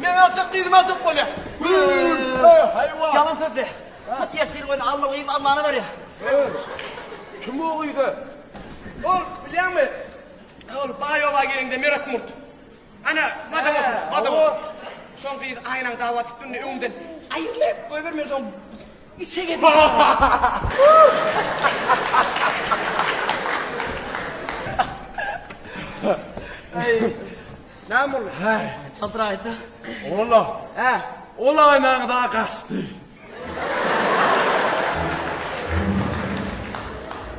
Men aljak diýdim aljak bolýa. Haýwan. Ýalan sözle. Hut ertir göni Alla gyz Allana berýa. Kim o gyza? Ol bilýäňmi? Ol baý oba gelende Merat Murt. Ana madam otur, madam otur. Şoň gyz aýnaň dawa tutdundy öňden. Aýrylyp goýberme şoň. Içe geldi. Aý. Näme boldy? Häý, çadyraýda. Ola. Hä, ola aýnaňy da gaçdy.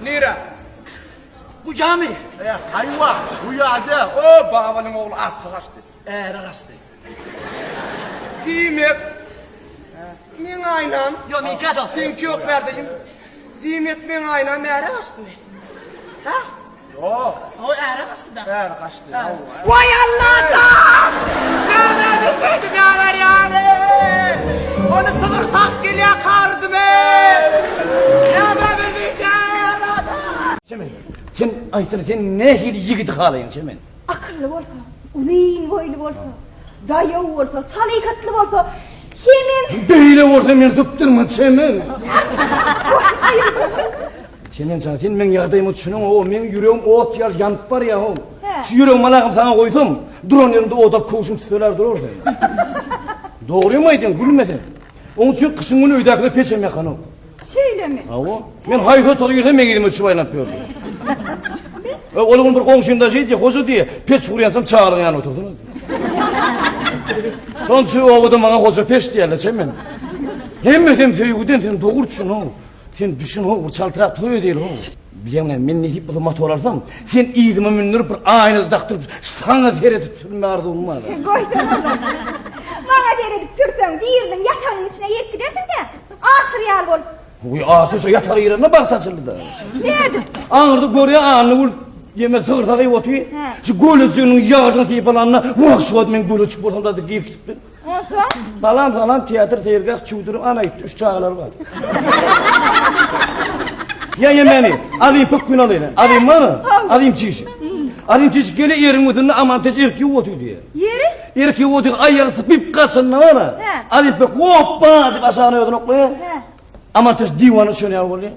Nire? Bu ýamy? E, haýwa, bu ýada. O, babalyň ogly arça gaçdy. Äre gaçdy. Diýmek, meň aýnam. Ýok, men gaçak. Seňki ýok bärde. Diýmek, meň aýnam äre gaçdymy? Hä? Oý äre gaçdyda. Äre gaçdy. Woý Allajan! Näme edip edip ýalar ýaly. Ony sygyr tak gelýä karydymy. Näme bilmejä Allajan. Çemen sen aýtsana sen nähili ýigidi halaýaň Çemen. Akylly bolsa, uzyn boýly bolsa. Daýaw bolsa, salyhatly bolsa, hemem. Beýle bolsa meni sypdyrma, Çemen! Çemen jan, sen meň ýagdaýyma düşüneňow, meň ýüregim ot ýaly ýanyp barýaow. Şu ýüregimi alagymy saňa goýsam, duran ýeriňde odap köwşüň tüteläp durar sen. Dogrymy aýdýaň, gülme sen. Oň üçin gyşyň güni öýdäkiler peçem ýakanok. Şeýlemi? Hawa. Men haýsy otaga girsem meň ýüzüme düşüp aýlanyp ýördi. E, ol gün bir goňşymda şeýdi, hoja diýe, peç gurýansam çagalyň ýanyna oturdy. Şonuň üçin obada maňa hoja peç diýerler, çem men. Hemme sen söýgüden sen dogry düşün o. Sen düşün o, bir çaltrak toý edýäli o. Bilýäňmi, men nesip bolsa motor alsam, sen ýygyma mündirip bir aýna dakdyryp, saňa seredip sürme arzuwym bar. Goýsana. Maňa seredip sürseň, biriniň ýatagynyň içine ýetip gidersiň-dä. Aşyr ýaly bolup. Guýy aşyr şu ýatar ýerinde bagt açyldy-da. Nädip? Aňyrda görýä Anna gül ýeme sygyrsa gyýyp otyr. Şu gölejiginiň ýaryny syýyp alanda wah şu wagt men göle çykyp bolsam-da diýip girip gitipdir. Onsoň? Salam salam teatr seýilgäh çüwdürip ana ýitdi üç çagalary bar. Ýa ýa meni alyp bu gün alyna. Alymmy? Alym çişi. Alym çişi gele ýeriň ýüzünde aman teş erip ýuwup otyr diýýä. Ýeri? Irki Wuding aýagyny sypyp gaçanda bar-a, Alypek Woppa! diýip aşagyna özüni oklaýar. Amantaş diwana düşen ýaly bolýar.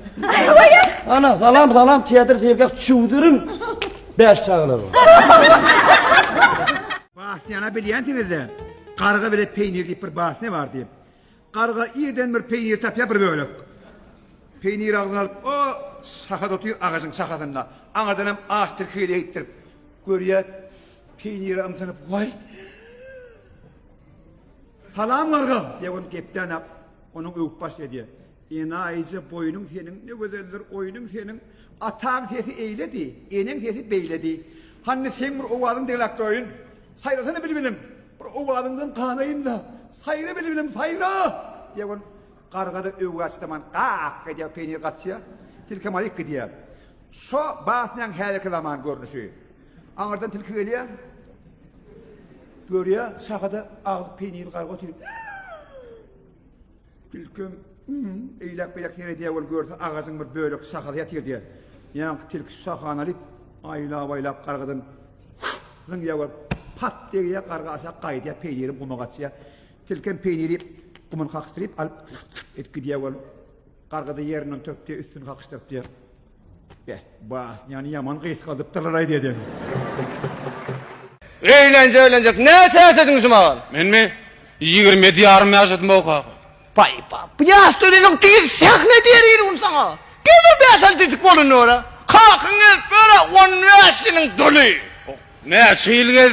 Ana, salam, salam, teatr seýilgäh çüwdürin. Bäş çagalar bar. Basnyýana bilýänsiňiz-dä, Garga bilen peýnir diýip bir basnya bardy. Garga ýerden bir peýnir tapýar, bir bölek. Peýniri agzyna alyp, o sahada otyr, agajyň sahasynda. Aňyrdan hem aç tirkegeli eýikdirip görýär. Peýnire ymtynyp, Waý! Salam, garga! diýip, ony geplän-ä onuň öwüp başlaýar, diýýär. Enaýyja boýnuň seniň ne gözeldir, oýnuň seniň. Ataň sesi eýledi, eneň sesi beýledi. Hany, seň bir owazyň degläp göýün! Saýrasana bilbilim, bir owazyňdan ganaýyn-da, saýra bilbilim, saýra! Ýegin garga-da öwgi açdaman gak edýär, peýnir gaçýar, tilki maýyk gidýär. Şo basnýaň häzirki zaman görnüşi. Aňyrdan tilki gelýär, görýär, şahada agzy peýnirli garga otyr. Tilkim eýläk-beýläk seredýär, ol görse agajyň bir bölek şahasy ýatyr diýýär. Ýaňky tilki şahany alyp, aýlap-aýlap gargadan zyňýar we pat degýär, garga aşak gaýdýar, peýniri guma gaçýar. Tilki hem peýniri guman kakyşdyryp alyp edip gidýär, ol gargada ýerinden turup diýýär, üstüni kakyşdyryp diýýär. Be, basnyany ýaman gysgadypdyrlar-aý dede. Eýlenje eýlenjek näçe ýaşadyň şu mahal? Menmi? Ýigrimi ýedi ýarym ýaşadym o kaka. Paý-paý, bu ýaşda öýlenjek diýil, sähne diýer ýerim saňa. Geler bäş-altynjyk bolanda görä. Kakaň gelip ýör-ä, on bäş ýylyň doly. Näçe ýyl gez.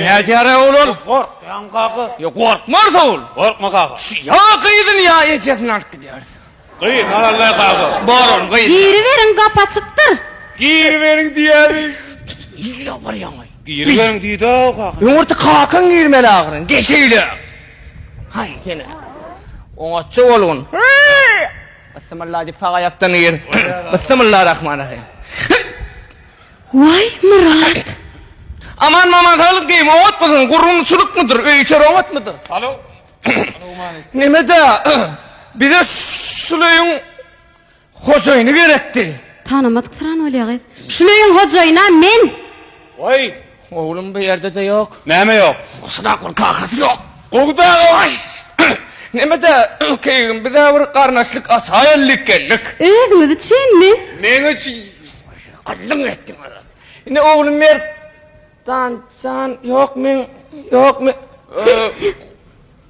Nädýär ýa olar? Gorkýan kaka. Ýa gorkmaz ol. Gorkma kaka. Ýa gyzyny ýa ejesini alyp gidýär. Gyz alaly kaka. Bolan gyz. Giriberiň gap açykdyr. Giriberiň diýýädi. Nirä barýaň aý? Giriberiň diýdi-ä kaka. Öňürti kakaň girmeli ahyryn. Geç öýle. Haý seni. Oňatja bolgun. Byssymylla diýip sag aýakdan gir. Byssymylla rahman rahym. Waý Myrat. Aman maman saglyk geýim owat bolsun gurgun çulukmydyr öý içer owatmydyr. Alo. Nemede bize şul öýüň hojaýyny gerekdi. Tanamadyk syran bolýa gyz. Şul öýüň hojaýyna men. Waý. Oglum bu ýerde-de ýok. Näme ýok? Goşunak bir kakasy ýok. Gowy dagy baş. Neme-de, keýgim, biz-ä bir garyndaşlyk açaýeldik geldik. Özüňiz üçinmi? Meň üçin. Allyň etdiň özüň. Ine, oglum Merdan jan ýokmy? Ýokmy?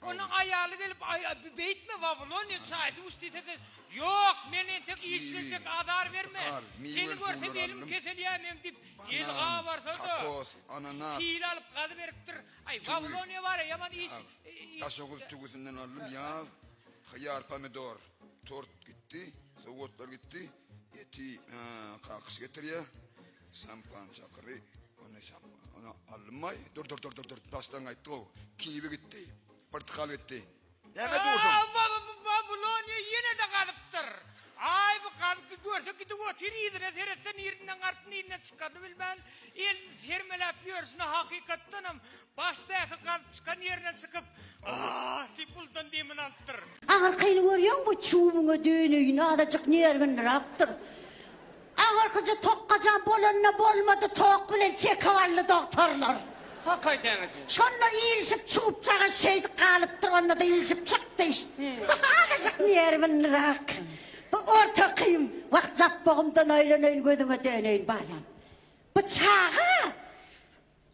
Onuň aýaly gelip, Aý, beýtme, Wawilonyýa çaý, duş diýse, sen, Ýok, men entek işlejek, azar berme. Seni görsem, elim keselýär meň diýip, el gabarsa-da, pil alyp, gazy beripdir. Aý, Wawilonyýa bar-a, ýaman iş. Daşoguz tüwüsinden aldym, ýaz, hyýar, pomidor, tort gitdi, sowgatlar gitdi. Eti kakyş getirýär. Şampan çakyry. Ony şampan. Ony alynmaý. Dur dur dur dur dur. Başdan gaýtdy o. Kiwi gitdi. Portakal gitdi. Näme dursun? Babiloniýa ýene de galypdyr. Aý bu galypdy görse gidip otyr yzyna seretse nirinden galyp nirinden çykanyny bilmän elini sermeläp ýörşüne hakykatdanam Başdaky gazyp çykan ýerine çykyp, Aah! diýip uludan demini alypdyr. Aňyrkyny görýäňmi, çüwüňe döneýin, azajyk nerwinirapdyr. Aňyrkyjy tokgaja bolanda bolmady, tok bilen çekip aldy dogtorlar. Hak aýdaňyjy. Şonda ilişip çupjaga şeýdip galypdyr, onda-da ilişip çykdy. Azajyk nerwinirap. Bu ortakym, wah, japbogymdan aýlanaýyn, gözüňe döneýin, balam. Bu çaga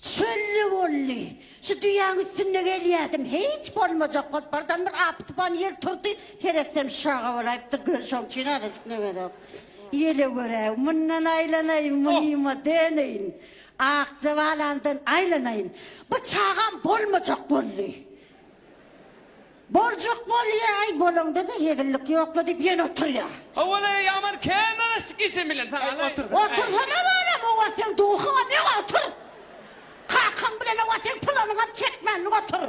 Çölli boldy. Şu düýäň üstünde gelýädim. Hiç bolmajak bolup bardan bir apy-tupan ýel turdy. Seretsem şaga bolaýypdyr. Göz şoň üçin azajyk nemerok. Ýele görä, mundan aýlanaýyn, munyma döneýin. Akja balandan aýlanaýyn. Bu çagam bolmajak boldy. Boljak bolýa aý bolanda-da hezillik ýokla diýip ýene oturýa. Howalaý ýaman kän garaşdyk geçen bilen saňa alaý. Otursana balam owa seň duhyňam ýok otur. Kakaň bilen owa seň pylanyňam çekmänlik otur.